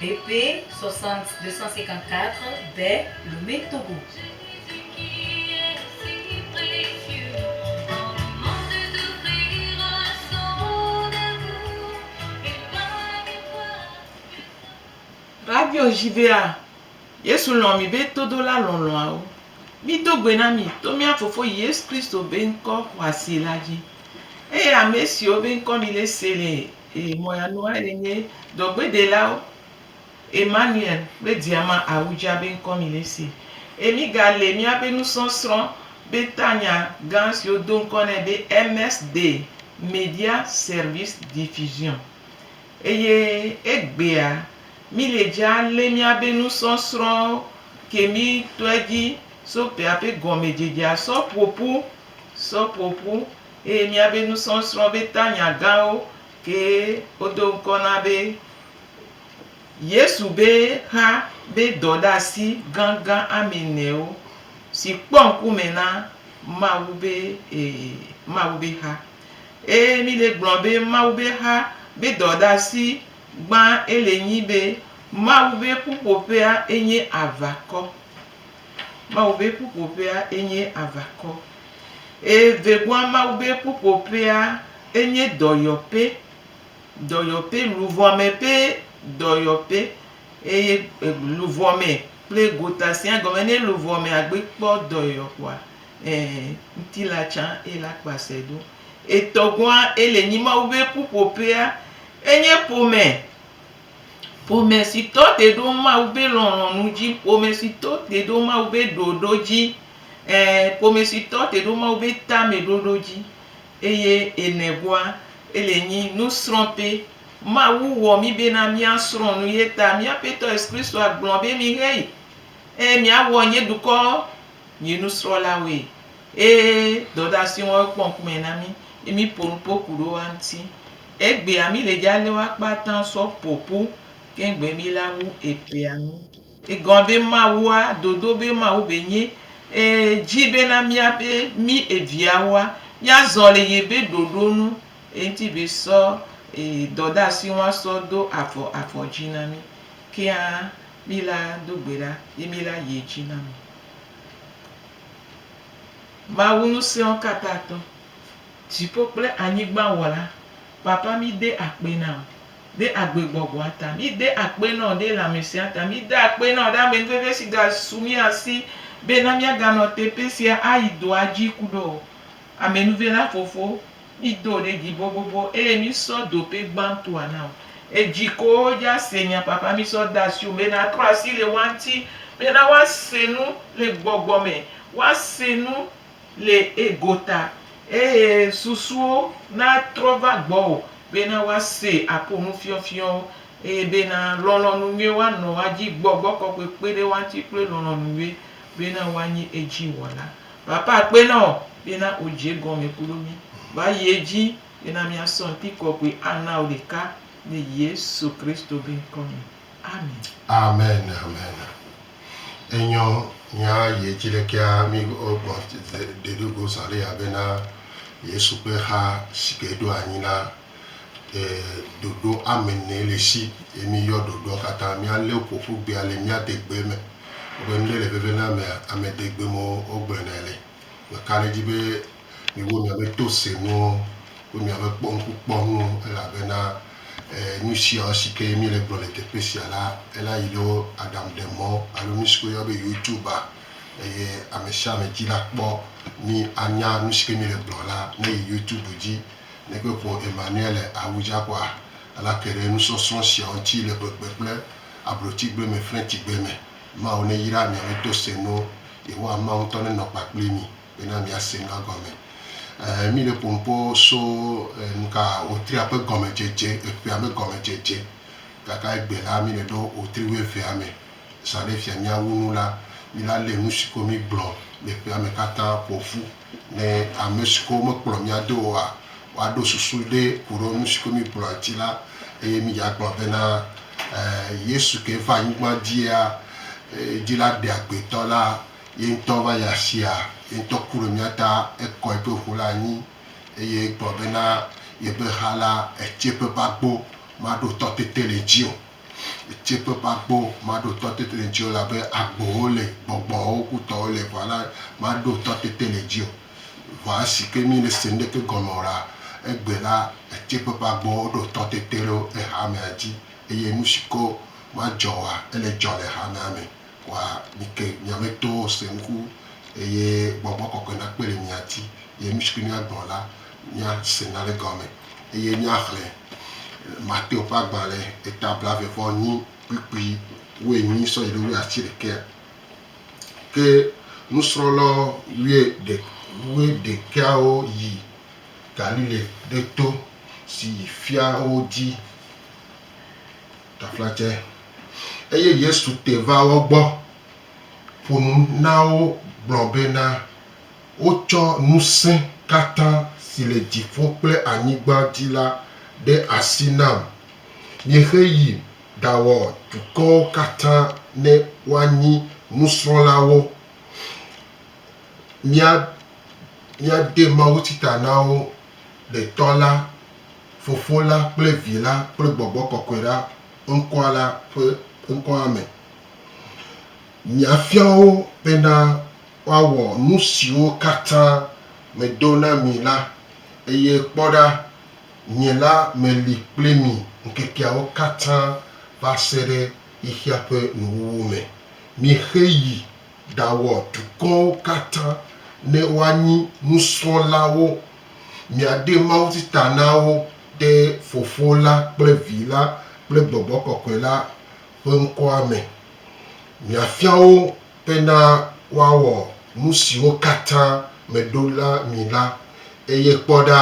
BP 60254 de Lomé Togo. Radio Juvea, Yesu lɔ̃ mi be todola lɔlɔ̃awo. Mído gbe na mi to mía Fofo Yesu Kristo be ŋkɔ xɔasi la dzi. Eye ame siwo be ŋkɔ mile see le Eye mɔyanua ye nye dɔgbedelawo Emmanuel be diama Ahuja be ŋkɔ mi le esi. Eye mi ga le mía be nusɔsrɔ̃ be tanya gã si wo do ŋkɔ nɛ be MSD, Media Service Diffusion. Eye egbea mi le dza le mía be nusɔsrɔ̃ ke mi tɔe dzi so ƒea ƒe gɔmedzedzea sɔ ƒoƒu, sɔ ƒoƒu. Eye míabe nusɔsrɔ̃ be tanya gãwo kee wodo ŋkɔ na be Yesu be xa be dɔɖeasi gãgã ame enewo si kpɔ ŋkume na Mawu be ee, Mawu be xa. Eye míle gblɔm be Mawu be xa be dɔɖeasi gbã ele nyi be Mawu be ƒuƒoƒea enye avakɔ. Mawu be ƒuƒoƒea enye avakɔ. Eye vegɔa Mawu be ƒuƒoƒea enye dɔyɔƒe, dɔyɔƒe, luʋɔ me ƒe dɔyɔƒe. Eye luʋɔ me kple gota sia gɔme ne luʋɔ me agbe kpɔ dɔyɔƒea, ẽ, ŋutila tsã ye la kpa se ɖo. Etɔ̃gɔa ele nyi Mawu be ƒuƒoƒea enye ƒome. Ƒome si tɔ te ɖo Mawu be lɔlɔ̃nu dzi, ƒome si tɔ te ɖo Mawu be ɖoɖo dzi, ẽ, ƒome si tɔ te ɖo Mawu be tameɖoɖo dzi. Eye enegoa, ele nyi nusrɔ̃ƒe. Mawu wɔ mí bena míasrɔ̃ nu. Ye ta mía Ƒetɔ Yesu Kristoa gblɔ be, Miheyi, eye miawɔ nye dukɔ nye nusrɔ̃lawoe. Eye dɔdasi wɔn ekpɔ ŋkumɛ na mí yi mí po nupo ku ɖo woa ŋuti. Egbea mí le dja lé woa kpa tã sɔ po pu keŋ gbe mí la wu eƒea nu. Egɔn be Mawua dodo be Mawu be nyé eye dji be na mía be mí evia woa mía zɔn le ye be ɖoɖo nu. Eye ŋuti be sɔ dɔdasi wɔa sɔ do afɔ afɔ dji na mí kea mí la do gbe ɖa ye mí la yi edji na me. Mawu Ŋusẽɔkatãtɔ, dziƒo kple anyigba Wɔla, Papa míde akpe na wò ɖe agbegbɔgbɔa ta, míde akpe na wò ɖe lãmesẽa ta, míde akpe na wò ɖe ame veve si gasu mía si bena míaganɔ teƒe sia ayi dɔa dzi ku ɖo o, amenuvela fofo. Mido ɖe dzi bobobo eye misɔ dope gbãtɔa nam. Edzi ko wodze ase nya ƒaƒã misɔ de asiwò be nàtrɔ asi le woa ŋuti, bena woase nu le gbɔgbɔ me, woase nu le egota, eye susuwo natrɔ va gbɔwò, bena woase aƒo nufiɔfiɔwo, eye bena lɔlɔ̃nu nyui woanɔ woa dzi, gbɔgbɔ kɔkɔe kpe ɖe woa ŋuti kple lɔlɔ̃nu nyui, bena woanye edziwɔla. Papa kpe na wò bena wòdze egɔme kplu mí. Va yi edzi bena míasɔ ŋutikɔkɔe ana wò ɖeka le Yesu Kristo be ŋkɔ me. Amen. Amen amen enyɔ nya yie tsiɖekea mi o gbɔ deɖi go zã ɖe ya bena yesu kpe xa sike ɖo anyi na ɖoɖo ame ne le si ye mi yɔ ɖoɖoa katã mi alé ƒoƒu gbea le mia degbe me be nu ɖe le veve na amea ame degbe mo wo gblɔ na le me ka le dzi be mi wo mia be to se nu wo mia be kpɔ ŋku kpɔ nu ele abe na eh, nu sia wo si ke mi le gblɔ le teƒe sia la ele ayi ɖe aɖaŋu ɖe mɔ alo nu si ke yɔ be youtube a eye ame sia ame dzi la kpɔ mi anya nu si ke mi le gblɔ la ne yi youtube dzi Negbe Paul Emmanuel le Awudzaxɔa, ela ke ɖe nusɔsrɔ̃ sia ŋuti le gbegbe kple ablotigbe me Frenchigbe me. Mawu neyra mia ŋutɔ se nuwo. Yehowa Mawu ŋutɔ nenɔ kpa kpli mi bena miase nua gɔme. Ɛɛ, míle ƒom kpɔ so nuka wotria ƒe gɔmedzedze, eƒea me gɔmedzedze. Gake egbe la, míle ɖo wotri wuievea me. Zã ɖe fia míawu nu la, míla lé nusi ko mígblɔ le ƒea me katã ƒo ƒu. Ne ame siwo mekplɔ mía do oa, woaɖo susu ɖe ku ɖe nu siwo míegblɔa ŋuti la, eye míagblɔ bena, Yesu ke va anyigba dzia dzi la ɖe agbetɔ la, ye ŋutɔ va yi asia, ye ŋutɔ ku ɖe mía ta, ekɔ eƒe ʋu le anyi, eye egblɔ bena, Yebexa la, etsɛƒe ƒe agbo maɖo tɔtete le edzi o. Tsiẽƒe ƒe agbo maɖo tɔ tete le ŋuti o, elabe agbowo li, gbɔ̃gbɔ̃wo ku tɔwo li, eŋua na maɖo tɔ tete le edzi o. Vɔa esi ke míele se nuɖeke gɔme o la, egbe la, tsiẽƒe ƒe agbowo ɖo tɔ tete ɖe hamea dzi, eye nu si ko madzɔ oa, ele dzɔ le hamea me. Vɔa mi ke mia me tɔwo se nuku, eye gbɔ̃gbɔ̃ kɔkɔe nakpe le mia dzi, eye nu si ke míagblɔ la, míase nane gɔme eye míaxlẽ Mateo ƒe agbalẽ eta blaeve vɔ enyi kpukpui wuienyi sɔ yi ɖe wuiasiɖekea. Ke nusrɔ̃la wuiɖekeawo yi Galile ɖe to si fia wo dzi taflatse. Eye Yesu te va wo gbɔ, ƒo nu na wo gblɔ bena. Wotsɔ ŋusẽ katã si le dziƒo kple anyigba dzi la ɖe asi nam. Miexe yi ɖawɔ dukɔwo katã ne woanyi nusrɔ̃lawo. Mía, míade mawutsi ta na wo le Tɔ la, Fofo la kple Vi la kple Gbɔgbɔ Kɔkɔe la ŋkɔa la ƒe ŋkɔa me. Miafia wo bena woawɔ nu siwo katã medo na mi la, eye kpɔ ɖa, nye la meli kple mi ŋkekeawo katã va se ɖe xexea ƒe nuwuwu me. Mixe yi ɖawɔ dukɔwo katã ne woanyi nusrɔ̃lawo. Miaɖe mawuti ta na wo ɖe Fofo la kple Vi la kple gbɔgbɔ kɔkɔe la ƒe ŋkɔa me. Miafia wo bena woawɔ nu siwo katã meɖo na mi la, eye kpɔ ɖa,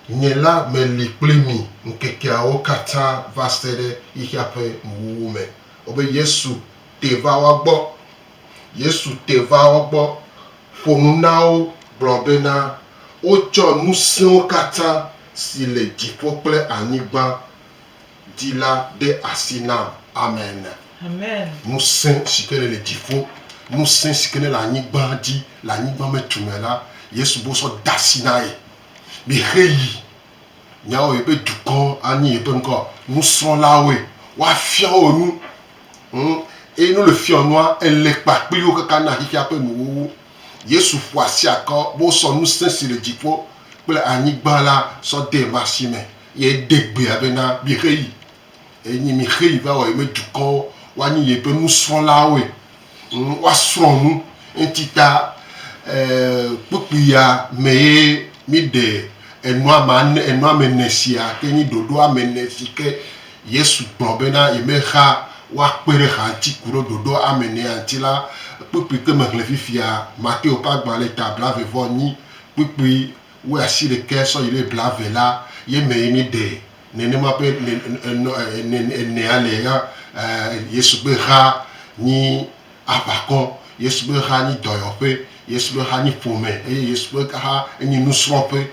nye la meli kpli mi ŋkekeawo katã va se ɖe xexea ƒe nuwuwu me. Wobe Yesu te va woa gbɔ. Yesu te va wo gbɔ, ƒo nu na wo gblɔ bena, Wotsɔ ŋusẽwo katã si le dziƒo kple anyigba Di la ɖe asi nam. Amen. Amen. Ŋusẽ si ke nele dziƒo, ŋusẽ si ke nele anyigba dzi, le anyigba me tume la, Yesu bo sɔ de asi na ye. Mi xeyi, miawɔ yeƒe dukɔ anyi yeƒe ŋkɔ nusrɔ̃lawoe. Woafia wo nu. Hm, eye ne le fia nua, ele kpa kpli wo kaka na xexea ƒe nuwuwu. Yesu ƒo asi akɔ bo sɔ ŋusẽ si le dziƒo kple anyigba la sɔ de ma si me. Ye ɖe gbea bena, Miheyi, enye miheyi va wɔ yeme dukɔwo woanyi yeƒe nusrɔ̃lawoe, ŋ, woasrɔ̃ nu. Eŋti ta, e, kpukpui ya me ye miɖe enuamane, enuamene sia ke nyi ɖoɖoamene si ke Yesu gblɔ bena yemexa woakpe ɖe xa ŋti ku ɖo ɖoɖoamenea ŋti la, kpukpui ke mehlẽ fifia, Mateo ƒe agbalẽ ta blaeve-vɔ-enyi, kpukpui, wuiasiɖekɛ sɔ yi ɖe blaeve la ye me ye míeɖe nenema be nɛnɛa le ya Yesu be xa nyi aʋakɔ, Yesu be xa nyi dɔyɔƒe, Yesu be xa nyi ƒome eye Yesu be xa nyi nusrɔ̃ƒe.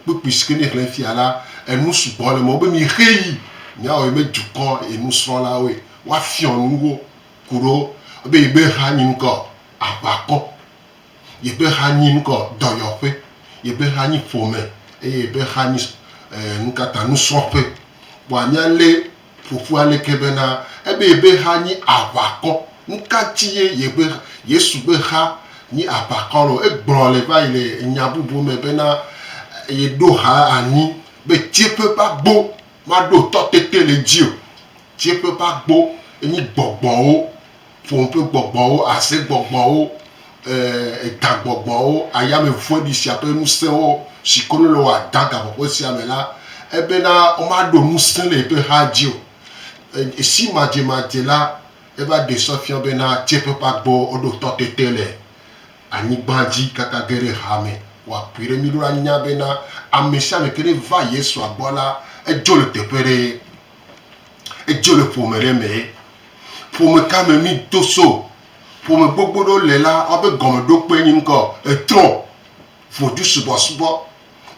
Kpukpui si ke míexlẽ fia la, enu sugbɔ le eme. Wobe mixe yi miawɔ yebe dukɔ ye nusrɔ̃lawoe woafiɔ nu wo ku ɖo ebe yebe xa nyi ŋkɔ aʋakɔ. Yeƒe ha nyi ŋkɔ dɔyɔƒe, yeƒe ha nyi ƒome eye yeƒe ha nyi nukata nusrɔ̃ƒe. Kpɔa míalé ƒoƒu aleke bena ebe yeƒe ha nyi aʋakɔ. Nukati ye yeƒe Yesu ƒe ha nyi aʋakɔ lɔ? Egblɔ le va yi le nya bubu me bena yeɖo ha anyi be tsiẽƒe ƒe agbo maɖo tɔtete le edzi o. Tsiẽƒe ƒe agbo enyi gbɔgbɔwo. ƒoƒe gbɔgbɔwo, ase gbɔgbɔwo, eda gbɔgbɔwo, ayame vɔ̃ɖi sia ƒe ŋusẽwo si ke wonɔ wɔada gaƒoƒo sia me la, ebena womaɖo ŋusẽ le yeƒe ha dzi o. Esi madzemadzee la, eva ɖe se fia bena tsiẽƒe ƒe agbowo woɖo tɔ tete le anyigba dzi kaka ge ɖe ha me wòakui ɖe mí ɖo anya bena ame sia ame ke ne va Yesua gbɔ la, edzo le teƒe ɖe. Edzo le ƒome ɖe me ye. Ƒome ka me mí do so? Ƒome gbogbo ɖewo le la, woabe gɔmeɖokpe nyi ŋkɔ, etrɔ, vodzu subɔsubɔ,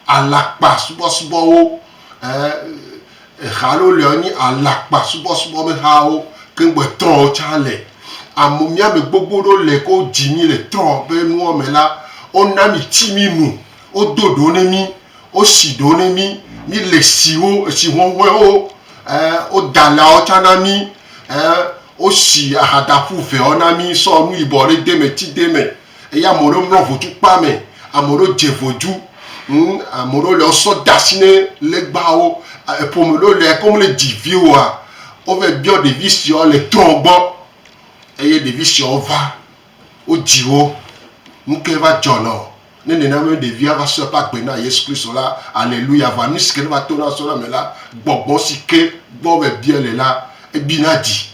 alakpa subɔsubɔwo, e, exa ɖewo le wonyi alakpa subɔsubɔ be xawo, ke ŋgbe trɔwo tsã le. Ame mía me gbogbo ɖewo le ke wodzi mí le trɔ be nuwo me la, wona mí tsi mí nu, wodo ɖewo ne mí. Wosi ɖo ne mí, mí le siwo, etsi hɔhɔewo, ɛ, wo da leawo tsã na mí, ɛ, wosi ahadaƒu veawo na mí sɔ nu yibɔ ɖe de me, ti de me. Eye ame ɖewo mlɔ votukpa me, ame ɖewo dze vodu, ŋ, ame ɖewo lia wosɔ de asi ne legbawo. A, eƒome ɖewo lia ke womele dzi vi oa, wova yi biɔ ɖevi siawo le trɔ̃ gbɔ. Eye ɖevi siawo va. Wodzi wo. Nu kae va dzɔ nɔ? Ne nena be ɖevia va sɔ eƒe agbe na Yesu Kristo la, aleluya! Vɔa nu si ke ne va to na sɔla me la, gbɔgbɔ si ke gbɔ veviae le la, ebina dzi.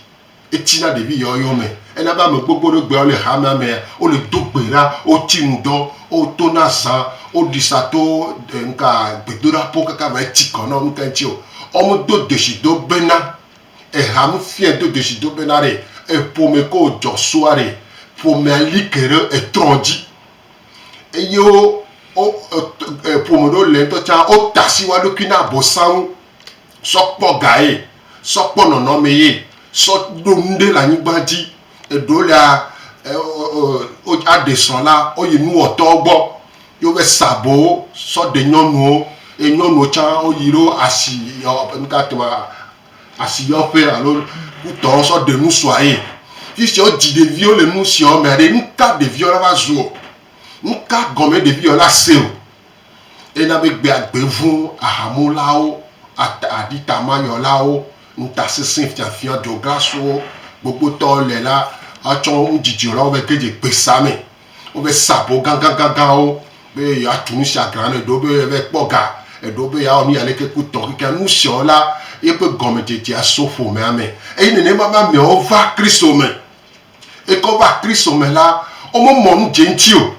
Etsina ɖevi yɔyɔ me. Ena be ame gbogbo ɖe gbeawo le hamea mea, wole do gbe ɖa, woti nu dɔ, wotona zã, woɖi sa to e ŋkaa gbedoɖaƒo kaka va etsi kɔ nɔ nu ka ŋuti o. Womedo deshi do bena eha nu fiɛ do deshi do bena ɖe eƒome ke wòdzɔ soa ɖe ƒomea li ke ɖe etrɔ dzi. Eye wo, wo, e, ƒome ɖewo le ŋutɔ tsã, wota asi wo ɖokui na Abosam ŋu sɔ kpɔ ga ye, sɔ kpɔ nɔnɔme ye, sɔ ɖo nu ɖe le anyigba dzi. Eɖewo lea, e, o, o, o, aɖe srɔ̃ la, woyi nuwɔtɔwo gbɔ. Ye wo be sa bɔ wo sɔ ɖe nyɔnuwo, ye nyɔnuwo tsã wo yi ɖo asi yɔ ƒe nu ka te ma asi yɔ ƒe alo wo tɔ wo sɔ ɖe nu sua ye. Fi sia wo dzi ɖeviwo le nu sia wo mea ɖe nu ka ɖevi yɔ la va zu o? Nu ka gɔme ɖevi yɔ la se o? Ye na be gbea gbe vo ahamu lawo, ata aɖi tama yɔ lawo, ŋuta sese fiafia dzoglasuwo, gbogbotɔ le la, atsɔ wo ŋu dzi dzi yɔ lawo be ke dze gbe sa me. Wobe sa bo gãgãgãgãwo be yeatu nu sia glã me, ɖewo be yeva kpɔ ga, eɖewo be yeawɔ nu ya leke ku tɔ kikea. Nu siawo la, yeƒe gɔmedzedzea so ƒomea me. Eye nenema be ameawo va Kristo me. Eke wova Kristo me la, womemɔ nu dze eŋuti o.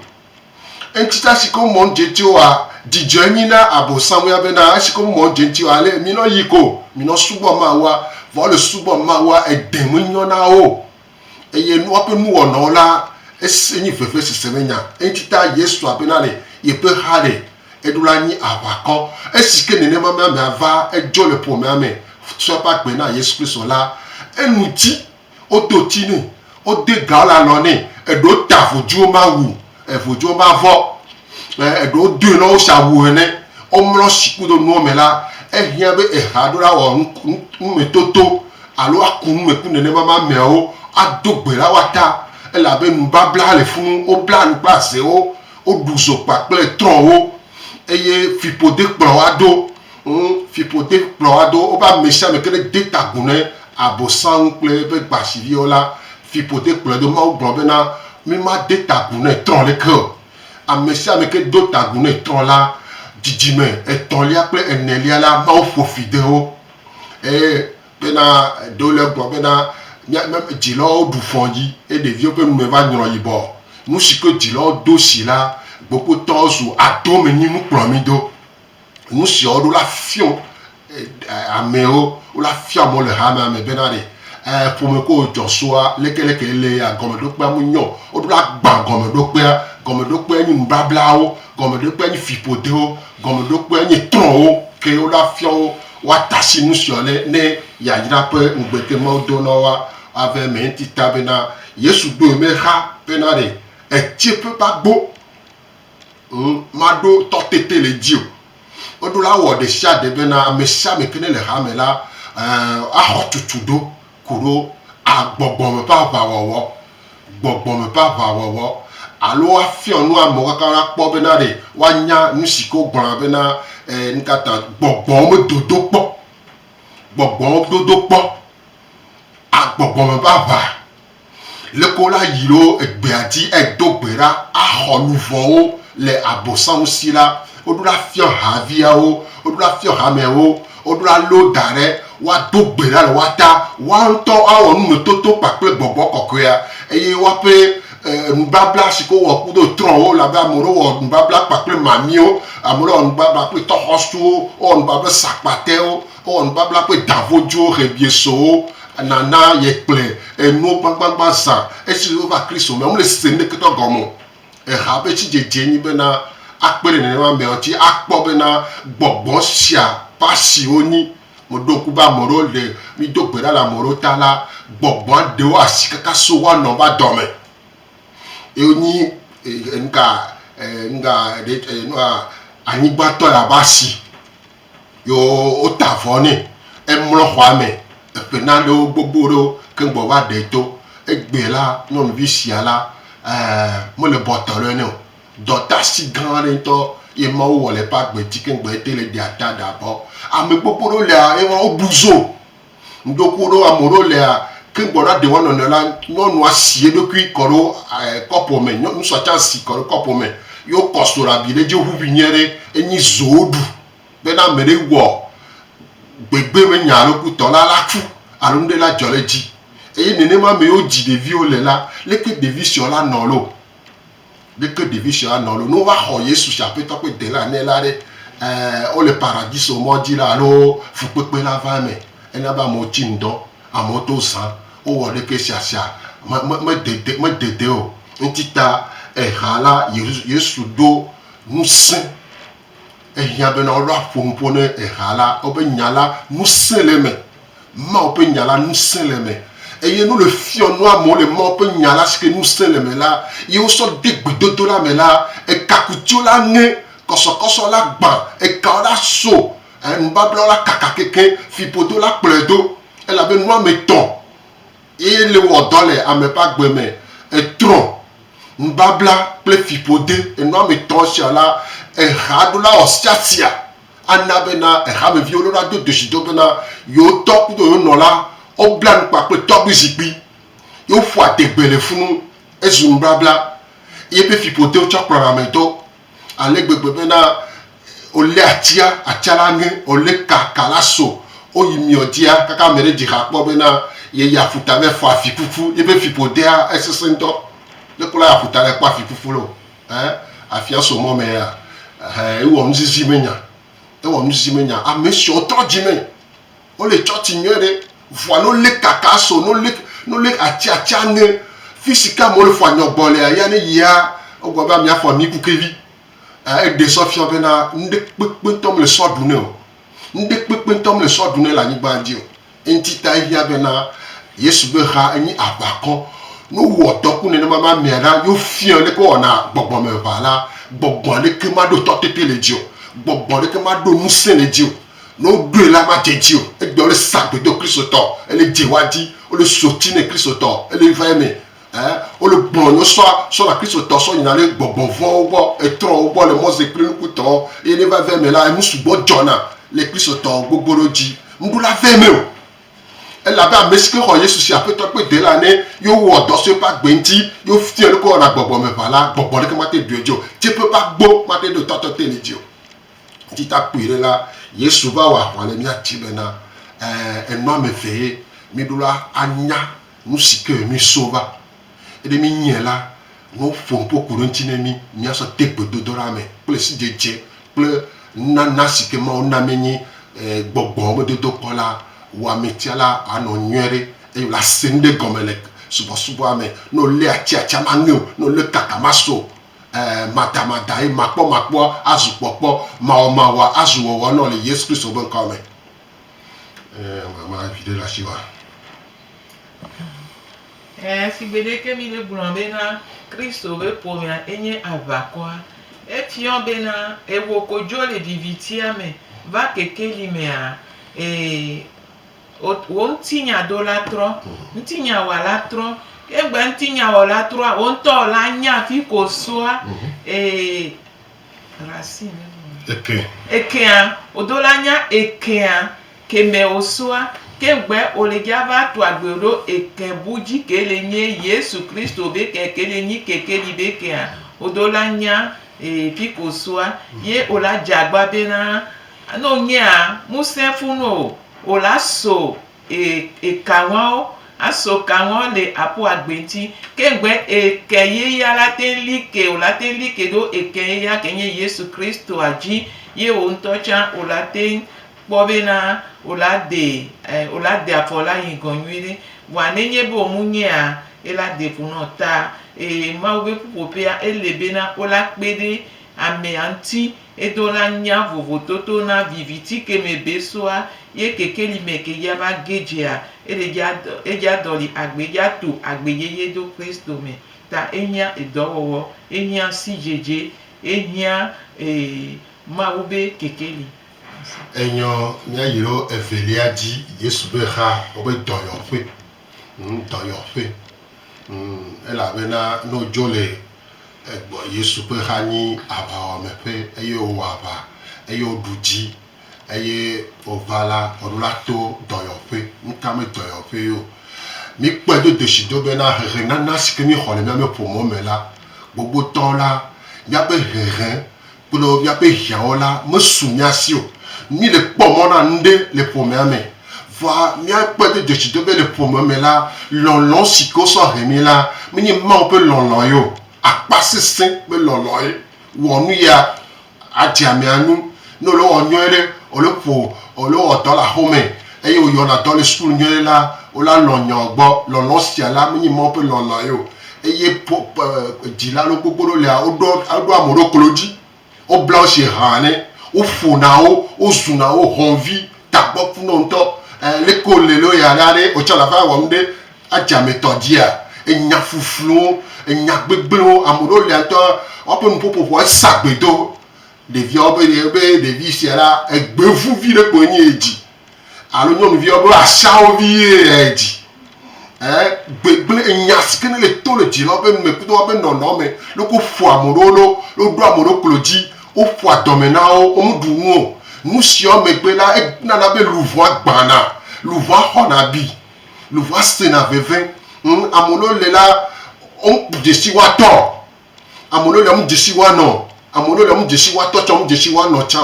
Eŋutita si ke womɔ nu dze eŋuti oa, dzidzɔe nyi na Abosam ya bena esi ke womemɔ nu dze eŋuti oa, ale, minɔ yi ko, minɔ subɔ Mawua. Vɔ wole subɔ Mawua, edẽ menyo na wo o. Eye nua ƒe nuwɔnawo la, ese nyi veve sesemenya. Eŋti ta Yesu abe na le yeƒe ha ɖe eɖo la nyi aʋakɔ. Esi ke nenema me amea va edzɔ le ƒomea me tsɔ eƒe agbe na Yesu Kristo la, enu ti, wodo ti nɛ, wode ga le alɔ nɛ, eɖewo ta vodzuwo Mawu. Evo dzɔ ba vɔ, eɖewo doe nɔ wosi awu hɛnɛ, womlɔ si kudo nuɔ mɛ la, ehiã be eha ɖo la wɔ numɛtoto alo aku numɛku nenema be amɛawo ado gbe la woata, elabe nubabla le funu, wobla nu kple azewo, woɖu zokpa kple trɔwo, eye fiƒode kplɔ woa ɖo. Ŋu fiƒode kplɔ aɖewo woƒe amesiame ke ne de ta agu ne Abosam ŋu kple eƒe gbasiviwo la, fiƒode kplɔe ɖo. Mawu gblɔ bena, Mimade ta agu nɛ trɔ ɖeke o. Amesiame ke do ta agu nɛ trɔ la, dzidzime etɔ̃lia kple enelia la, Mawu ƒo fi de wo. Eye bena ɖewo le egblɔm bena, Míaƒe dzilawo ɖu fɔ̃ dzi eye ɖeviwo ƒe nume va nyrɔ yibɔ. Nusi ke dzilawo do si la, gbogboetɔwo zu adomɛnyinukplɔamidɔ. Nu siawo ɖo la fiɔ amewo wole afia amewo le hamea me bena ɖe eh, ƒome ko dzɔ soa lekeleke ele ya gɔmeɖokpea mu nyɔ woɖo la gbã gɔmeɖokpea gɔmeɖokpea nyi nubablawo gɔmeɖokpea nyi fiƒodewo gɔmeɖokpea nyi trɔwo ke woɖo afia wo woatasi nu siawo le ne yayra ƒe ŋugbe ke mawo do na woa ave eme ŋuti ta bena yesu ɖo emexa bena ɖe etsi ƒe ƒe agbo ŋu maɖo tɔ tete le edzi o. Eɖo la wɔ ɖesiaɖe bena amesiame ke nele hame la axɔ tutu ɖo kuɖo agbɔgbɔ me ƒe aʋawɔwɔ, gbɔgbɔ me ƒe aʋawɔwɔ, alo afiɔ nu amewo kaka la kpɔ bena ɖe woanya nusi ke wogblɔna bena nukata gbɔgbɔwo me dodo kpɔ, gbɔgbɔwo dodo kpɔ, agbɔgbɔ me ƒe aʋa. Leke la yilo egbea dzi edo gbe ɖa axɔ luvɔwo le abosãwo si la, woɖo la fiɔ haviawo, woɖo la fiɔ hameawo, woɖo la loo da ɖe woado gbe ɖa le woa ta, woa ŋutɔ awɔ numetoto kpakple gbɔgbɔ kɔkɔea, eye woaƒe nubabla si ke wowɔ kudo trɔ̃wo, elabe ame ɖewo wɔ nubabla kpakple mamiwo, ame ɖewo wɔ nubabla kple tɔxɔsuwo, wowɔ nubabla sakpatɛwo, Wowɔ nubabla kple davodzowo xebie so wo na na ye kple enuwo gbagbagba zã. Esi ɖewo va Kristo mea, womele sese nuɖeke tɔ gɔme o. Eha ƒe sidzedze nye bena akpe ɖe nenema amea ŋuti akpɔ bena gbɔgbɔ sia ƒe asi wonyi. Meɖo ŋku be ame aɖewo le mi do gbe ɖa le ame aɖewo ta la, gbɔgbɔa ɖe wo asi kaka so wo anɔ va dɔ me. Ye wonyi e, e, nuka, e, nuka, e, e, nua, anyigbatɔ le aba si. Yo wota avɔ nɛ. Emlɔ xɔa me eƒe nanewo gbogbo ɖewo ke gbɔ va ɖe to. Egbea la, nyɔnuvi sia la e mele bɔtɔɖo ene o. Dɔdasi gã aɖe ŋutɔ ye Mawu wɔ le eƒe agbe dzi ke ŋgbe ete le ɖia ta ɖa bɔ. Ame gbogbo ɖewo lea ye ma wobu zo Ŋɖo kuo ɖo ame ɖewo lea keŋ gbɔ na ɖewoa nɔnɔe la, ne wonɔ asi eɖokui kɔ ɖo kɔpua me, ne wosɔ atsa asi kɔ ɖo kɔpua me ye wokɔ soɖa abi ɖe edzi woʋuʋui nyuie ɖe, enyi zo woɖu be ne ame ɖe wɔ gbegbe me nya alo ku tɔ la, la ku alo nuɖe la dzɔ ɖe edzi. Eye nenema me ye wodzi ɖeviwo le la, leke ɖevi siɔ la nɔ loo? Ɖeke ɖevi sue anɔ lo ne wova xɔ Yesu si Aƒetɔ kple Delã nɛ la ɖe, ẽ, wole paradiso mɔ dzi la alo fukpekpe la va eme. Ena be amewo tsi ŋdɔ, amewo to zã, wowɔ ɖeke sia sia me, me, medede, medede o. Ŋutita eha la, Yesu, Yesu ɖo ŋusẽ Ehiã bena woɖo aƒo nu ƒo ne eha la, woƒe nya la ŋusẽ le eme. Mawu ƒe nya la ŋusẽ le eme. Eye nu le fiɔ nu amewo le Mawu ƒe nya la si ke ŋusẽ le eme la, ye wosɔ de gbedodo la me la, eka kutiwo la ŋe, kɔsɔkɔsɔ la gbã, ekawo la so, ẽ, nubablawo la kaka kekeŋ, fiƒodo la kplɔe do. Elabe nua me tɔ eye le wɔ dɔ le ame ƒe agbe me. Etrɔ. Nubabla kple fiƒode enɔametɔ sia la, ehea ɖola ɔsiasia ana bena ehameviwo lɔ̃na do doshido bena yewo tɔ kudo yewo nɔ la, wobla nukpa kple tɔgbuizikpui, yewo ƒoa adegbe le funu, ezu nubabla, ye eƒe fiƒodewo tsɔ kplɔna ame dɔ. ale gbegbe bena olé atia, atia la ŋe, olé ka, ka la so, woyi miɔ dzia, kaka ame ɖe dzi xa kpɔ bena yeyi aƒuta be fɔ afiƒuƒu, yebe fiƒodea esesẽ ŋtɔ, leke wole yi aƒuta le kpɔ afiƒuƒu leo, ɛ, afia so mɔ mea, ɛhɛ, ewɔ nuzizi me nya, ewɔ nuzizi me nya, amesiɔ trɔ dzi me, Wole tsɔtsi nyuie ɖe, vɔa no le kaka so no le no le atsi atsi aŋe fi si ke amewo le fɔa nyɔgbɔ lea ya ne yia wogblɔ be amea fɔ ami kukevi a eɖe sɔ fiɔ bena nuɖekpekpe ŋutɔ mele sɔ ɖu nɛ o. Nuɖekpekpe ŋutɔ mele sɔ ɖu nɛ le anyigba dzi o. Eŋuti tae hiã bena Yesu be ha enye aʋakɔ. Ne wowɔ dɔ ku nenema be amea ɖa ye wofiɔe leke wowɔna gbɔgbɔ me ʋa la, gbɔgbɔ aɖeke maɖo tɔtete le edzi o. Gbɔgbɔ aɖeke maɖo ŋusẽ le edzi o. Ne woɖoe la, madze edzi o. Egbe wole sa gbedo Kristotɔ, ele dze wa dzi, wole so tsi ne Kristotɔ, ele va eme. Ɛ, wole gbɔn nyo sɔa, sɔna Kristotɔ sɔ yina ɖe gbɔgbɔ vɔ̃wo gbɔ, etrɔ wo gbɔ le mɔze kple nukutɔ, eye ne va ve eme la, enu sugbɔ dzɔna le Kristotɔ gbogbo ɖewo dzi. Nuɖo la ve eme o. Ele abe ame si ke xɔ Yesu si Aƒetɔ kple Dela ene, ye wowɔ dɔ so eƒe agbe ŋuti, ye wofiae leke wowɔna gbɔgbɔ me ʋã la, gbɔgbɔ ɖeke mate ɖoe dzi o. Tse ƒe ƒe agbo mate ɖo tatɔte le dzi o. Ŋutita kpui ɖe la, Yesu va wɔ aʋa le mía ti me na enu ame ve ye mí ɖo la anya nu si ke mi so va. Ede mi nyɛ la, ne wo ƒo nuƒo ku ɖe ŋuti ne mi, mía sɔ te gbedodoɖa me kple sidzedze kple nunana si ke Mawu na mi nyi gbɔgbɔ me dodo kpɔ la, wɔametia la a nɔ nyuiɛ ɖe eye wòla se nuɖe gɔme le subɔsubɔa me. Ne wòle atia, atia ma ŋe o, ne wòle kaka ma so o. eh, madamada, eye makpɔmakpɔ azu kpɔkpɔ, mawɔmawɔ azu wɔwɔ nɔ le Yesu Kristo be ŋkɔ me. Eh, mama vi ɖe le asi wa. Eh, sigbe ɖeke mi le gblɔ bena Kristo be ƒomea enye aʋakɔa, efiɔ bena ewɔ kodzo le vivitia me va kekeli mea? Eh, O, wò ŋutinyadola trɔ, ŋutinyawala trɔ. Egbe ŋutinyawɔla trɔa, wò ŋutɔ la nya afi ko sɔa, ee, racine ye wonɔna. Eke. Ekea, wò do la nya ekea ke mɛ wò sɔa. Ke ŋgbe wò le dza va tu agbe ɖo eke bu dzi ke le nye Yesu Kristo be ke ke le nyi kekeli be kea, wò do la nya, ee, fi ko sɔa. Ye wò la dze agba be na. Eno nyea ŋusẽ funu o, o la so e e kaŋɔɔ, a so kaŋɔɔ le apo agbe ŋti. Ke ŋgbe e ke yeya la te ŋ li ke o la te ŋ li ke ɖo e ke yeya ke nye Yesu Kristo a dzi ye o ŋtɔ tsan o la te ŋ kpɔ be na o la de e o la de afɔ la yi gɔn nyuiɖe. Vɔa ne nye be o mu nyea e la de fu nɔn ta e Mawu be ƒuƒoƒea e le be na o la kpe ɖe amea ŋti Edo la nya vovototo na viviti ke me be soa ye kekeli me ke dja va ge djea, eɖe dja dɔ, edja dɔli agbe, edja to agbe yeye do Kristo me. Ta ehiã edɔwɔwɔ, ehiã sidzedze, ehiã e Mawu be kekeli. Enyɔ nyayiro evelia dji Yesu be xa wobe dɔyɔƒe. ŋu dɔyɔƒe. Elabena ne wodzo le egbɔ Yesu ƒe xa nyi aʋawɔame ƒe eye wowɔ aʋa eye woɖu dzi eye wova la, woɖo la to dɔyɔƒe. Nu ka me dɔyɔƒe ye o? Míkpɔe do deshi do bena hehenana si ke míexɔ le míaƒe ƒome me la, gbogbotɔ la, míaƒe hehe kple míaƒe hiãwo la mesu mía si o. Míele kpɔ mɔ na nuɖe le ƒomea me. Vɔa míakpɔe be dzotsido be le ƒome me la, lɔlɔ̃ si ke wosɔ he mí la menye Mawu ƒe lɔlɔ̃e o. Akpa sesẽ ƒe lɔlɔ̃e wɔ nu ya. Adze amea nu ne wòle wɔ nyɔe ɖe, wòle ƒo, wòle wɔ dɔ le aƒeme, Eye woyɔna dɔ le sukulu nyuie la wo la lɔn nyɔ gbɔ. Lɔlɔ sia la me nyi Mawu ƒe lɔlɔ yeo. Eye po, pe, dzila lo gbogbo ɖo lia wo ɖɔ, wo ɖo ame ɖo klo dzi. Wo bla wo si hã nɛ. Wo ƒona wo, wo zuna wo hɔnvi, tagbɔ ku nɔ ŋtɔ. Ɛ, leke wo le lo ya la ɖe otsɔ la va wɔ nuɖe adze ame tɔ dzia? Enya flufluwo, enya gbegble wo, ame ɖo lia ŋtɔ woaƒe nuƒoƒoƒoa esa gbe do. Ɖeviawo be nye be ɖevi sia la egbe ŋu vi ɖe kpoe nye ye dzi alo nyɔnuviawo be asiawo vi ye ye dzi e gbe gble enya si ke ne le to le dzilawo be nume kudo woabe nɔnɔ me loko woƒoa ame ɖewo lo lo ɖo ame ɖewo klo dzi woƒoa dɔme na wo wo me ɖu nu o nu siawo megbe la e nana be luʋɔa gbana luʋɔa xɔna bi luʋɔa sena veve ŋ ame ɖewo le la wo desi woatɔ Ame ɖewo lia nu dzesi woanɔ, ame ɖewo lia nu dzesi woatɔ tsã, nu dzesi woanɔ tsã.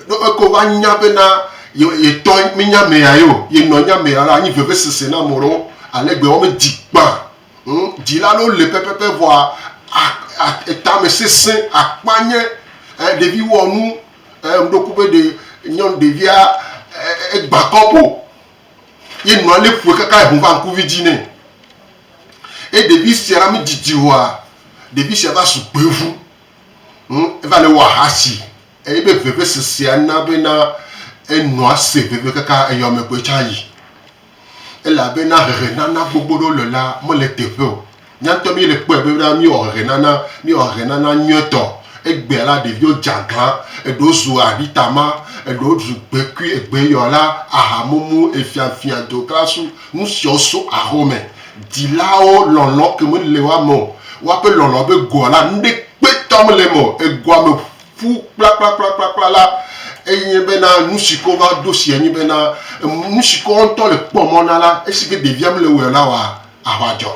Ɖo eke woanya bena ye yetɔ menye amea ye o, yenɔ nye amea la, anyi vevesese na ame ɖewo ale gbegbe be dzi gbã. Hm, dzila aɖewo li pɛpɛpɛ vɔa a, a, etame sesẽ, akpa nye. Ẽ, ɖevi wɔ nu, ẽ, ŋɖo ŋku be ɖe nyɔnu ɖevia e, e, egbã kɔpu o ye nɔa li ƒoe kaka eho va ŋkuvi dzi nɛ. Eye ɖevi sia la medidi oa, ɖevi sia va su kpevu. Ŋu eva le wɔ ahasi. Eye be veve sesea na be na enɔa se veve kaka eyɔme kpoe tsã yi. Elabena hehe nana gbogbo ɖewo le la mele teƒe o. Mía ŋutɔ mí le kpɔe be na mí wɔ hehe nana, mí wɔ hehe nana nyuietɔ. Egbea la ɖeviwo dze aglã, eɖewo zu aɖitama, eɖewo zu gbekui, egbeyɔ la, ahamumu, efiafia, doklasu, Nu siawo so axɔ me. Dzilawo lɔlɔ̃ ke mele woa me o. Woaƒe lɔlɔ̃ be goa la, nuɖekpe tɔ mele eme o. Egoa me ƒu kplakplakplakplakpla la enye bena nu si ke wova do sie nye bena nu si ke woawo ŋutɔ le kpɔ mɔ na la, esi ke ɖevia mele wɔe o la, wòa, aʋa dzɔ.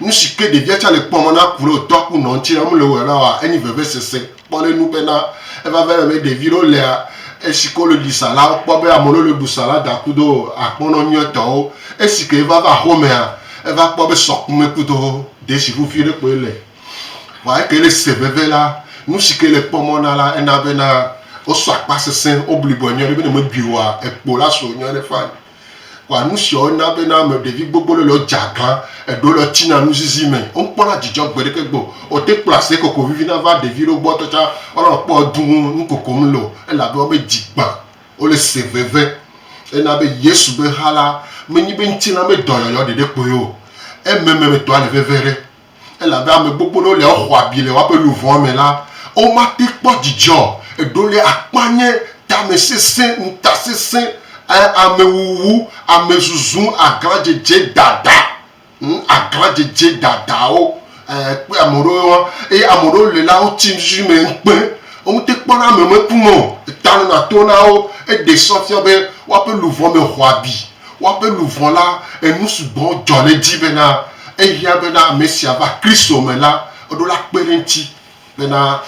Nusi ke ɖevia tsã le kpɔ mɔ naku ɖe wòtɔ aku nɔ ŋuti na mele wɔe na oa, enyi vevesese. Kpɔ ɖe ŋu bena, eva va eme be ɖevi ɖewo lea, esi ke wole ɖi sa la, wokpɔ be ame ɖewo le ɖu sa la da ku do akpɔnɔ nyuie tɔwo. Esi ke eva va axomea, eva kpɔ be sɔkume kudo desi ƒuƒui ɖe kpoe le. Vɔa eke le se veve la, nusi ke le kpɔ mɔ na la, ena bena wosɔ akpasesẽ, woblibɔe nyuie ɖe be ne megui oa, ekpo la su wo nyuie ɖe fani. Kpɔa nu siawo na bena ame ɖevi gbogbo ɖe le wo dza gã, eɖewo le wo tsina nuzizi me, wo kpɔna dzidzɔ gbe ɖeke gbɔ. O te kplɔ ase koko vivi na va ɖevi ɖewo gbɔ tɔ tsa ɔlɔ wo kpɔ edu ŋu nu koko me leo, elabe wo be dzi gbã, wo le se veve. Ena be Yesu be ha la me nyi be ŋtilã me dɔyɔyɔ ɖeɖe kpoe o, ememe me tɔa le veve ɖe. Elabe ame gbogbo ɖewo le woxɔ abi le woaƒe luʋɔa me la, womate kpɔ dzidzɔ o. Eɖole akpa nye tamesesẽ, ŋutasesẽ, amewuwu, amezuzu, aglãdzedze, dada, aglãdzedze, dadawo kple ame ɖewo hã. Eye ame ɖewo le la, wotsi nuɖuɖu me ŋukpe. Womete kpɔna ame me kuna o. Ta nɔna to na wo. Eɖe sɔ fia be woaƒe luʋɔ me xɔ abi. Woaƒe luʋɔ la, enu sugbɔ dzɔ ɖe edzi bena ehiã bena ame sia va Kristo me la, eɖo la kpe ɖe eŋuti bena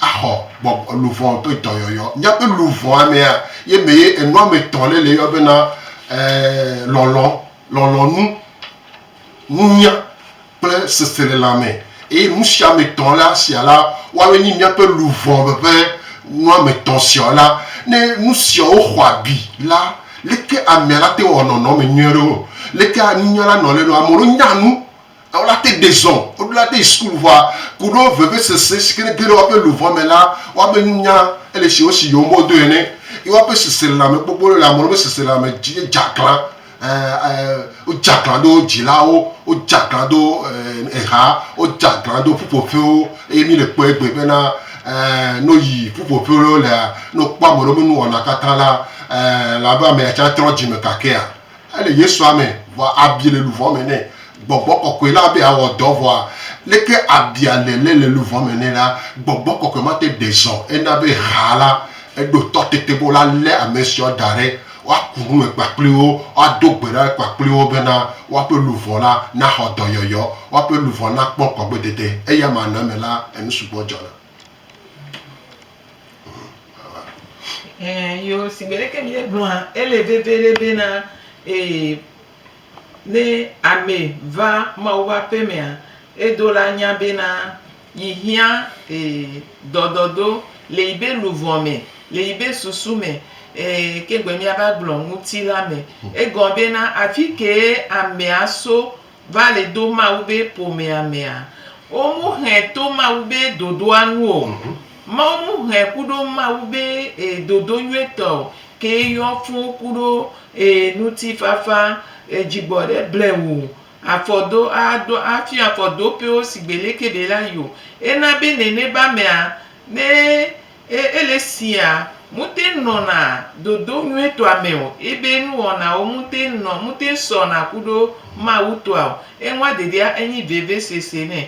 axɔ gbɔgbɔ luʋɔ ƒe dɔyɔyɔ. Míaƒe luʋɔa mea, ye me ye enɔametɔ ɖe le yɔ bena, ɛɛ, lɔlɔ̃, lɔlɔ̃nu, nunya. kple seselelãme, eye nusiametɔ la sia la woawoe nye míaƒe luʋɔ ƒe nɔametɔ siawo la. Ne nusiawo xɔ abi la, leke amea la te wɔ nɔnɔme nyui aɖe o? Leke nunyala nɔle nɔ? Amewo nya nu, wo la te ɖe zɔ, wo la te yi sukulu ʋɔa, kuɖo vevesese si ke ne ge ɖe woaƒe luʋɔ me la, woaƒe nunya ele si wosi yewomɔdoe ene, ye woaƒe seselelãmekpɔkpɔ ɖo le amewo ƒe seselelãme dzi dze aglã. Wodze aglã ɖo dzilawo, wodze aglã ɖo eha, wodze aglã ɖo ƒuƒoƒewo eye mi le kpɔɛ egbɔe bena ne woyi ƒuƒoƒe ɖewo lea, ne wokpɔ ame ɖewo be nu wɔna katã la, elabe ame ya tsã trɔ dzi me gakea? Ele Yesua me vɔ abi le luʋɔ me nɛ. Gbɔgbɔ kɔkɔe la be yeawɔ dɔ vɔa, leke abia le le le luʋɔ me nɛ la, gbɔgbɔ kɔkɔe ma te ɖe zɔ ena be eha la eɖo tɔ tete be wola le ame siawo da ɖe Woaku nu me kpakpli wo, woado gbe ɖa kpakpli wo bena, Woaƒe luʋɔ la naxɔ dɔyɔyɔ, woaƒe luʋɔ nakpɔ kɔgbedede, eye ame anɔame la, enu sugbɔ dzɔ na. Ẽ, yo, si gbe ɖeke míegblɔa, ele veviɖe bena, ee. Ne amɛ va Mawu ƒe aƒe mea, edo la nya be na yi hiã e dɔdɔdo le yi be luvɔ me, le yi be susu me e ke gbe mía va gblɔ ŋuti la me. Egɔ be na afi kee amea so va le do Mawu be ƒomea mea, wo mu hɛ to Mawu be dodoa nu o. Mawu mu hɛ kuɖo Mawu bé e dodo nyuitɔ ke yɔ fun kuɖo e nutifafa e jigbɔɖɛ ble wo afɔ do a do a fiɔ afɔ do pewo sigbe leke be la yio. E na be nɛnɛ ba mea ne e ele sia mu teŋ nɔna dodo nyuitɔa me o e be nuwɔnawo mu teŋ nɔ mu teŋ sɔna kuɖo Mawu tɔa o. Eŋua dedea enyi vevesese nɛ.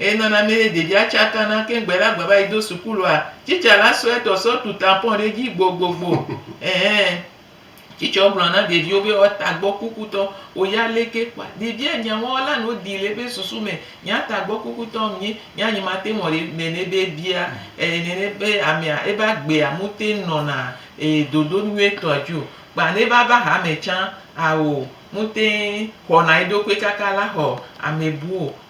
Eye nɔnɔamee ye ɖevia tsakana keŋ gbe la gbe va yi do sukulua, titsa la sɔe tɔ sɔ tu tampon ɖe edzi gbogbogbo. Ɛhɛn. Titsawo gblɔ na ɖeviwo be woatagbɔ kukutɔ. Wò ya leke kpɔa? Ɖevia nya wɔwɔ la nɔ ɖi le eƒe susu me. Nyatagbɔ kukutɔ ŋu nye, nye anyi mate ŋu wɔ ɖe nene be ebia e nene be amea eƒe agbea ŋute nɔna e dodo nyuietɔa dzi o. Kpa ne va va hame tsã ao ŋute xɔna eɖokui kaka la xɔ amebu o.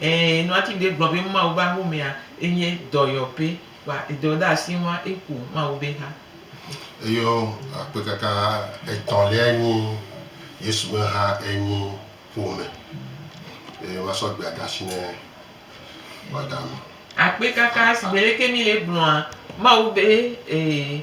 Ẽ, Noatinge gblɔ be Mawu be ahomea enye dɔyɔƒe, kpa dɔdeasi ŋua eku Mawu be ha. Eyo akpekaka etɔ̃liae nyi Yesu be ha enyi ƒome eye woasɔ gbea dasi nɛ wòada nu. Akpekaka si gbe leke mi le gblɔa Mawu be e.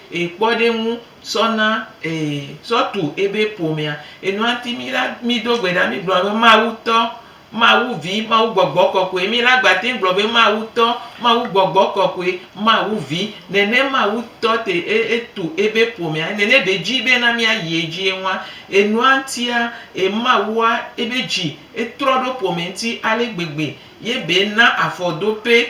e kpɔɖeŋu sɔ na e sɔ tu ebe ƒomea. Enɔ ati mi la mi do gbe ɖa mi gblɔ be Mawu tɔ, Mawu vi, Mawu gbɔgbɔ kɔkɔe. Mi la gba te gblɔ be Mawu tɔ, Mawu gbɔgbɔ kɔkɔe, Mawu vi. Nene Mawu tɔ te e e tu ebe ƒomea. Nene ɖe dzi be na mia yi edzi eŋua. Enɔa ŋtia e Mawua ebe dzi e trɔ ɖo ƒome ŋti ale gbegbe ye be na afɔ do pe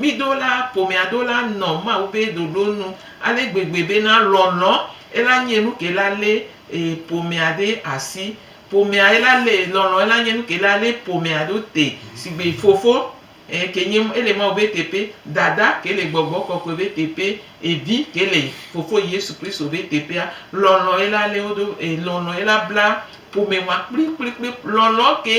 Mí ɖola, ƒomea ɖola nɔ Mawu be ɖoɖo nu ale gbegbe be na lɔlɔ ela nyɛ nuke la lé e ƒomea ɖe asi. Ƒomea ela lé lɔlɔ ela nyɛ nuke la lé ƒomea ɖo te sigbe fofo e ke nyɛ ele Mawu be teƒe, dada ke le gbɔgbɔ kɔkɔe be teƒe e vi ke le fofo Yesu Kristo be teƒea. Lɔlɔ ela lé wo ɖo e lɔlɔ ela bla ƒome wa kplikplikpli lɔlɔ ke.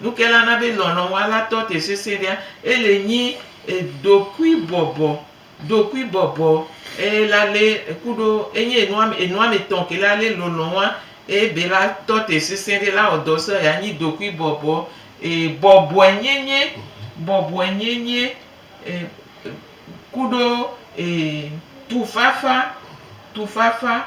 Nuke la na be lɔlɔ̃ wɔla tɔ te sesẽɖea? Ele nyi ɖokuibɔbɔ, ɖokuibɔbɔ eye la le kuɖo enyi enua me, enua me tɔ ke la le lɔlɔ̃ wɔa eye be la tɔ te sesẽɖe la wɔ dɔ se ya nyi ɖokuibɔbɔ eye bɔbɔe nyenye, bɔbɔe nyenye e kuɖo e tufafa, tufafa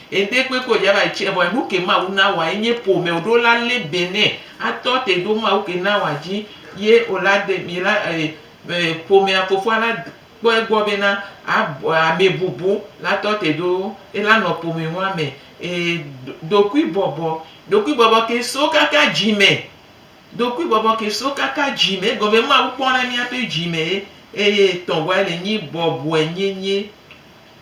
Ede kpe ko dza va tse vɔe nuke mawu na wa enye po me oɖo la le be ne atɔ te ɖo mawu ke na wa dzi ye o la de mi la e e po mea fofoa la kpɔ egbɔ be na a ame bubu la tɔ te ɖo ela nɔ po me ŋua me e ɖokui bɔbɔ ɖokui bɔbɔ ke so kaka dzi me ɖokui bɔbɔ ke so kaka dzi me egɔ be mawu kpɔ ɖe mia ƒe dzi me ye eye etɔ̃ bɔe le nyi bɔbɔe nyenye.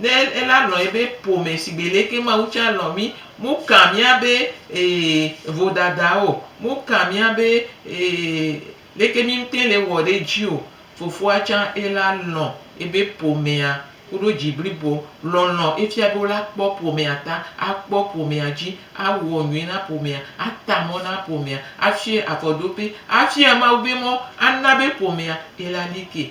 Ne ela lɔ̃ ebe ƒome shigbe leke Mawu tsã lɔ̃ mí, mu kã míabe ee vodada o. Mu kã míabe ee leke mí ŋte le wɔ ɖe edzi o. Fofoa tsã ela lɔ̃ ebe ƒomea kuɖo dzi blibo. Lɔlɔ̃ efia be wola kpɔ ƒomea ta, akpɔ ƒomea dzi, awɔ nyui na ƒomea, ata mɔ na ƒomea, afiɔe afɔdoƒe, afia Mawu be mɔ ana be ƒomea ela li ke.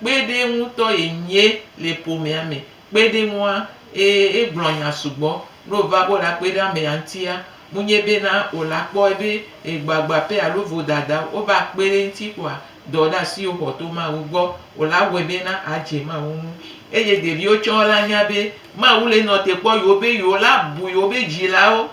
Kpe ɖe ŋutɔ ye nyie le ƒomea me. Kpe ɖe ŋua eye e gblɔ nya sugbɔ ne o va be o la kpe ɖe amea ŋutia. Mu nye be na o la kpɔ ebe e gbagba ƒe alo vodada o va kpe ɖe ŋuti kpɔa, dɔ ɖa si o xɔ to Mawu gbɔ o la wɔe be na a dze Mawu ŋu. Eye ɖeviwo tsɛ o la nya be Mawu le nɔ te kpɔ yewo be yewo la bu yewo be dzilawo.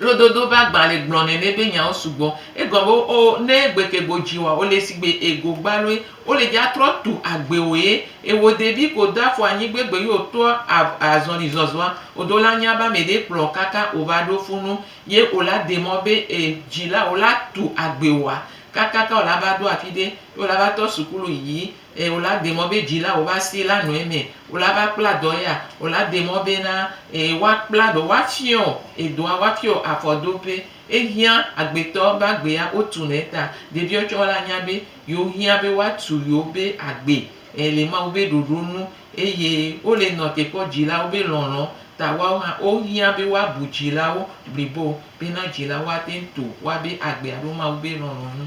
Lododo be agbale gblɔ nɛnɛ be nyawo sugbɔ. Egɔ be o ne gbeke go dji wa ole sigbe ego gbaloe, ole dja trɔ tu agbeo ye ewo devi ko do afɔ anyi gbe egbe ye o toa azɔli zɔzɔa odo la nya be ameɖe kplɔ kaka o va ɖo funu ye o la de mɔ be e dji la o la tu agbeoa kakaka o la va ɖo afiɖe ye o la va tɔ sukulu yiyi eye wòla de mɔ be dzila wòva si la nɔ eme, wòla va kpla dɔ ya, wòla de mɔ be na ee woakpla ɖo woafiɔ edɔa woafiɔ afɔdoƒe. Ehiã agbetɔ be agbea wotu nɛ ta ɖeviwo tsɛ wola nya be yewo hiã be woatu yewo be agbe e le Mawu be ɖoɖo nu eye wole nɔ te kpɔ dzilawo be lɔlɔ ta woawo hã wohiã be woabu dzilawo blibo bena dzilawo woate ŋu tu woabe agbe alo Mawu be lɔlɔ nu.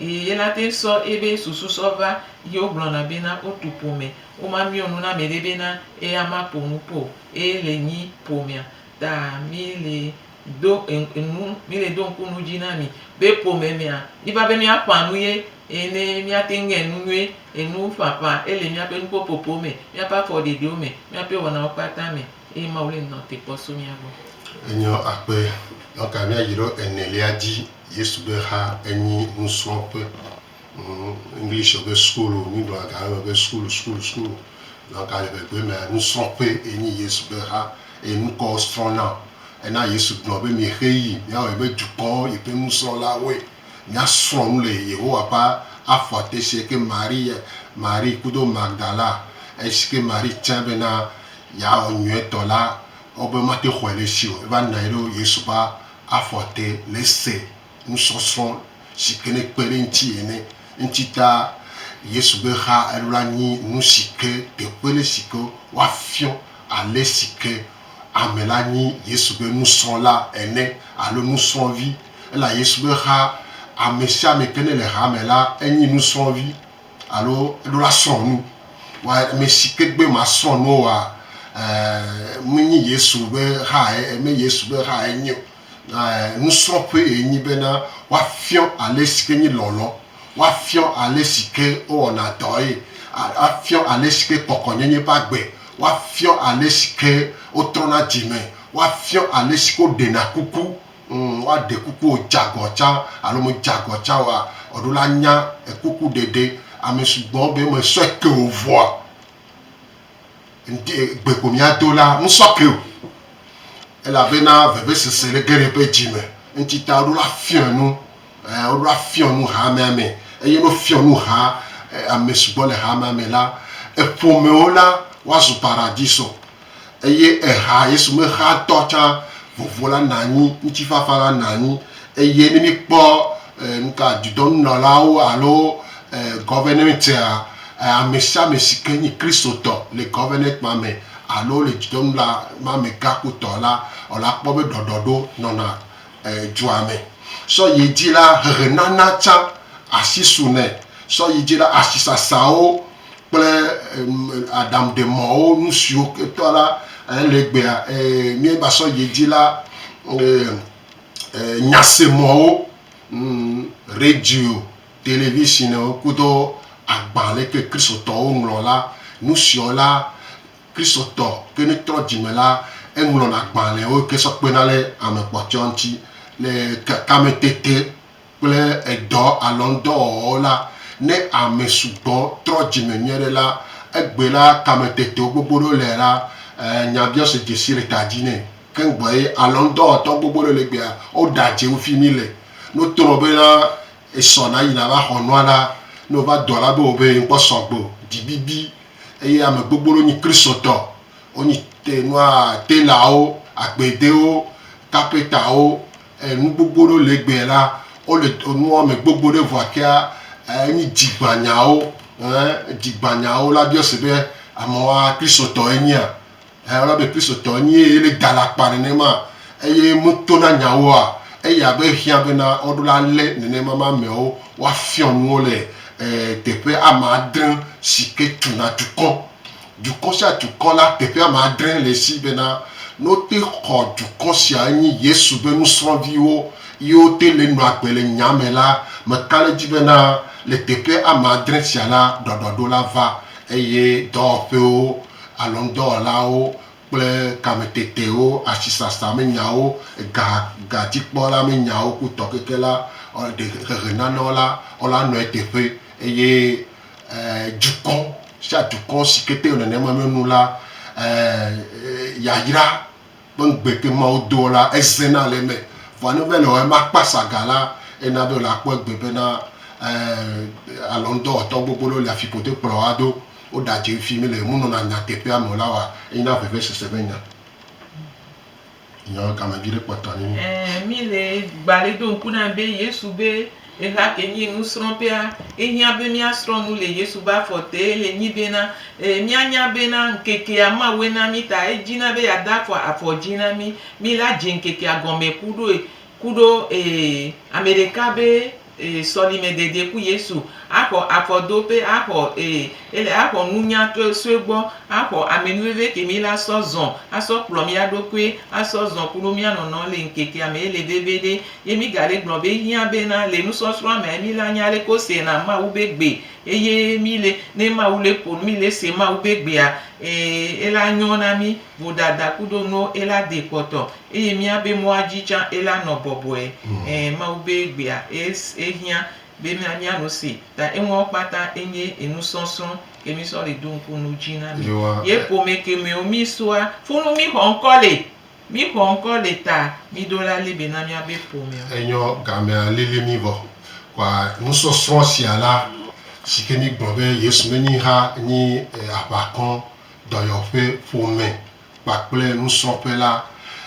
Eye ye la teŋ sɔ ebe susu sɔ va ye wogblɔna bena wotu ƒome, woma miɔ nu na ame ɖe bena eya ma ƒo nu kpɔ o, eye le nyi ƒomea ta mi le do enu, mi le do ŋku nu dzi na mi be ƒome mea mi va be mia ƒã nu ye, eye ne mia te ŋu enu nyuie, enu ƒaƒã ele miaƒe nuƒoƒoƒo me, miaƒe afɔ ɖeɖewo me, miaƒe wɔnawo kpata me. Eye Mawu li nɔ te kpɔ so mía gbɔ. Enyɔ akpe. Nɔka míadzi ɖo enelia dzi Yesu be xa enyi nusrɔ̃ƒe? English wo be school o, mí gblɔna ga eme be school, school, school. Nɔka le gbegbe mea, nusrɔ̃ƒe ye nyi Yesu be xa eye nukɔ wo srɔ̃na. Ena Yesu gblɔ be mi xe yi, mía wɔe be dukɔwo yi ƒe nusrɔ̃lawoe. Mía srɔ̃ nu le Yehowa ƒe afɔ te si ke Maria, Marie kudo Magdala, esi ke Marie tsã be na. Ya ɔ nyuietɔ la, ɔ be ma te xɔɛ le si o, e va nɔ anyi ɖo Yesu ƒe afɔ te le se nusɔsrɔ̃ si ke ne kpe ɖe eŋti ene. Eŋti ta Yesu be xa elo la nyi nu si ke teƒe le si ke wa fiɔ ale si ke ame la nyi Yesu be nusrɔ̃la ene alo nusrɔ̃vi. Ela Yesu be xa, ame sia ame yi ke ne le xa me la, enyi nusrɔ̃vi. alo eɖo la srɔ̃ nu. Wa ame si ke gbe ma srɔ̃ nu oa, eh, menye Yesu be ha ye, eh, me Yesu be ha ye nyi o. Eh, nusrɔ̃ƒe ye nyi bena woafiɔ ale si ke nyi lɔlɔ, woafiɔ ale si ke wowɔna dɔ ye, a- afiɔ ale si ke kɔkɔnyenye ƒe agbe, woafiɔ ale si ke wotrɔna dzime, woafiɔ ale si ke woɖena kuku. Ŋ, woaɖe kuku wò dzeagɔ tsã alo me dzeagɔ tsã oa, eɖo la nya ekuku ɖeɖe ame sugbɔ be me sɔe ke o vɔa, ŋde gbe ko mia do la, me sɔ ke o. Elabena vevesese ɖe ge ɖe eƒe dzi me. Ŋtsi ta woɖo la fiɔe nu, ɛ, woɖo la fiɔ nu hamea me. Eye ne wofiɔ nu ha ame sugbɔ le hamea me la, eƒomewo la, woazu paradiso. Eye eha Yesu mexa tɔ tsã vovo la na anyi ŋutifafa la na anyi eye ne mi kpɔ nuka dudɔ nunɔlawo alo gɔvɛnɛntia amesiame sike nyi kristotɔ le gɔvɛnɛnt ma me alo le dudɔ nula ma me gaku tɔ la ɔ la kpɔ be ɖɔɖɔɖo nɔna dua me sɔ yi dzi la hehe nana tsã asi su nɛ sɔ yi dzi la asisasawo kple aɖaŋuɖemɔ̃wo, nu siwo tɔ la le egbea, míeva sɔ yi edzi la, nyasemɔ̃wo, radio, televisionwo kudo agbalẽ ke Kristotɔwo ŋlɔ la, nu siɔ la, Kristotɔ ke ne trɔ dzi me la, eŋlɔna agbalẽwo ke sɔ kpena ɖe ame kpɔtɔewo ŋuti le kame tete kple edɔ alɔ̃dɔwɔwɔ la, ne ame sugbɔ trɔ dzime nyuie ɖe la, egbe la kametetewo gbogbo ɖo le la, eh, nyabiɔse dzesi le ta dzi nɛ. Keŋ gbɔ ye alɔ̃dɔwɔtɔ gbogbo ɖo le gbea, wo ɖa dze wo fi mi le. Ne wo trɔ be na esɔ na yi na va xɔ nua la, ne wo va dɔ la be wo be ŋ kpɔ sɔ gbe o. Dzi bibi eye ame gbogbo ɖo nyi Kristotɔ. Wo nyi te nua telawo, agbedewo, kapetawo. Enu gbogbo ɖewo le egbea la, wole enua me gbogbo ɖe vɔ akea enyi dzigbanyawo. Ẽ, dzigbanyawo la biɔ se be amewoa Kristotɔ enyea? Ẽ, wona be Kristotɔ enyi eye ele da le akpa nenema eye nu tona nyawoa? Eya be hiã bena woɖo la le nenema me amewo woafiɔ nu wo le ẽ teƒe ame adre si ke tuna dukɔ. Dukɔ sia dukɔ la teƒe ame adre le esi bena ne wote xɔ dukɔ sia enye Yesu be nusrɔviwo ye wote le nɔ agbe le nya me la, meka ɖe edzi bena le teƒe ame adre sia la ɖɔɖɔɖo la va eye dɔwɔƒewo, alɔnudɔwɔlawo kple kametetewo, asisasa me nyawo, ga ga dzikpɔla me nyawo kutɔ keke la, ɔ ɖe hehenanɔ la, ɔ la nɔ eteƒe eye. dukɔ sia dukɔ si ke te wòle nenema me nu la, yayra ƒe ŋugbe ke Mawu doa la, ezẽna le eme. Vɔa ne va le wɔ ema kpɔ asaga la, ena be wòle akpɔ egbe bena alɔnudɔwɔtɔ gbogbo ɖewo le afi ƒodo kplɔ woa ɖo. Woɖe adze efi mi le eme wonɔna nyateƒea me wòla wɔ enye vevesese be nya. Nya game viɖe kpɔtɔ ni. Ɛ, mí le gbali ɖo ŋku na be Yesu be exa ke nyi nusrɔ̃ƒea. Ehiã be míasrɔ̃ nu le Yesu be afɔ te eye nyi bena, ɛ, míanya bena ŋkekea Mawue na mí ta edzi na be yeada afɔ, afɔ dzi na mí. Mí la dze ŋkekea gɔme ku ɖoe. Ku ɖo ee, amɛɖeka be ee sɔlime dede ku Yesu axɔ afɔdo pe axɔ ee ele axɔ nunya ke sue gbɔ axɔ amɛnuveve ke mi la sɔ zɔn asɔ kplɔ miaɖokue asɔ zɔn ku ɖo mia nɔnɔ le ŋkekea me ele veveɖe ye mi ga le gblɔ be hiã be na le nusɔsrɔa mea mi la nya leke wo se na Mawu be gbe eye mi le ne Mawu le ƒonu mi le se Mawu be gbea ee ela nyɔ na mi. Vodada kudo no ela de kpɔtɔ eye mía be mɔa dzi tsã ela nɔ bɔbɔe. Ẽ, Mawu be gbea es ehiã be mía mía nu si ta eŋuawo kpata enye enusɔsrɔ̃ ke mí sɔ le do ŋku nu dzi na mi. Ye ƒome ke mewo mí sɔa funu mí xɔ ŋkɔ le. Mí xɔ ŋkɔ le ta mí do la li be na mía be ƒomeɔ. Enyɔ gamea lili mí vɔ. Kɔa nusɔsrɔ̃ sia la si ke mí gblɔ be Yesu me nyi hã nyi aʋakɔ dɔyɔƒe, ƒome kpakple nusrɔ̃ƒe la,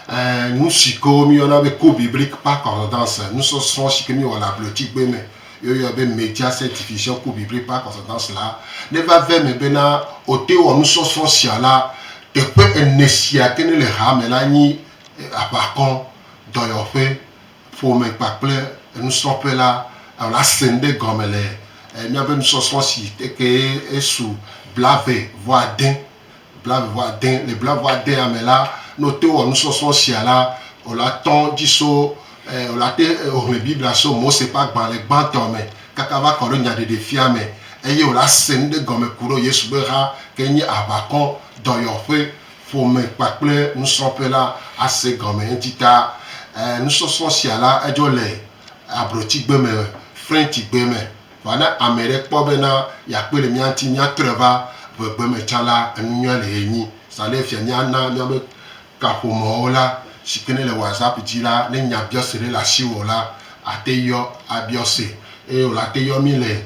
ɛ̃, nu si ke míeyɔna be co-biblique parcorsdance, nusɔsrɔ̃ si ke míewɔ le ablɔdzigbe me, ye woyɔa be Media Certification co-biblique parcorsdance la, neva ve eme bena wote wɔ nusɔsrɔ̃ sia la, teƒe ene sia ke nele hame la nye aʋakɔ, dɔyɔƒe, ƒome kpakple enusrɔ̃ƒe la, alo asẽ nu ɖe gɔme le míaƒe nusɔsrɔ̃ si kekee esu blaeve vɔ ade, blaeve vɔ ade. Le blaeve vɔ adea me la, ne wote wɔ nusɔsrɔ̃ sia la, wòle atɔ dzi so, wòle ate ŋuxlẽ Biblia so Mose ƒe agbalẽ gbãtɔ me kaka va kɔ ɖo Nyaɖeɖefia me, eye wòle asẽ nu ɖe gɔme ku ɖo Yesu gbexa ke nye aʋakɔ dɔyɔƒe Ƒome kpakple nusrɔ̃ƒe la ase gɔme ŋutita. Nusɔsrɔ̃ sia la edzɔ le Abrotsigbe me, Frenchigbe me. Vɔ ne ame ɖe kpɔ bena yeakpe le mía ŋuti míatrɔe va ʋegbe me tsã la, enunyɔe le ye nyi. Zã ɖe fia míana míaƒe kaƒomɔ̃wo la, si ke nele WhatsApp dzi la, ne nyabiɔse ɖe le asiwò la, àte yɔ abiɔse eye wòlate yɔ mí le.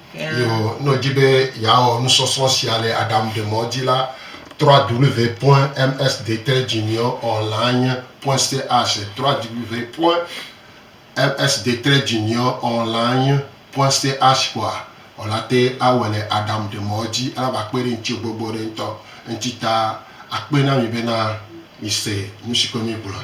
Yoo, ne wòdi be yeawɔ nusɔsrɔ̃ sia le aɖaŋuɖemɔ̃ dzi la, www.msdtrjunior-online.ch, www.msdtrjunior-online.ch kpɔa, ɔ la te awɔe le aɖaŋuɖemɔ̃ dzi. Ela va kpe ɖe ŋuti gbogbo ɖe ŋutɔ. Eŋuti ta akpe na mi bena mise nusi ke mi gblɔa.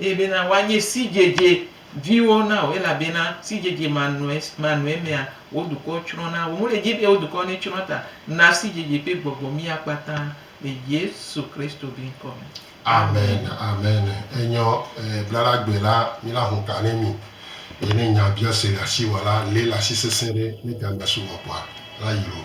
Eye bena woanye sidzedze viwo na wò, elabena sidzedze manɔe, manɔemea, wò dukɔ tsrɔ̃na. Wò mele di be wò dukɔ netsrɔ̃ ta. Na sidzedze ƒe gbɔgbɔ mí akpata le Yesu Kristo vi ŋkɔ me. Amen. Amen. Enyɔ eh, blaɖa gbe la, mí la ho ka ne mí. Eye ne nya biɔse le asi wɔ la, le le asi sesẽ ɖe, ne ga mia su wɔ kɔa, la yilo.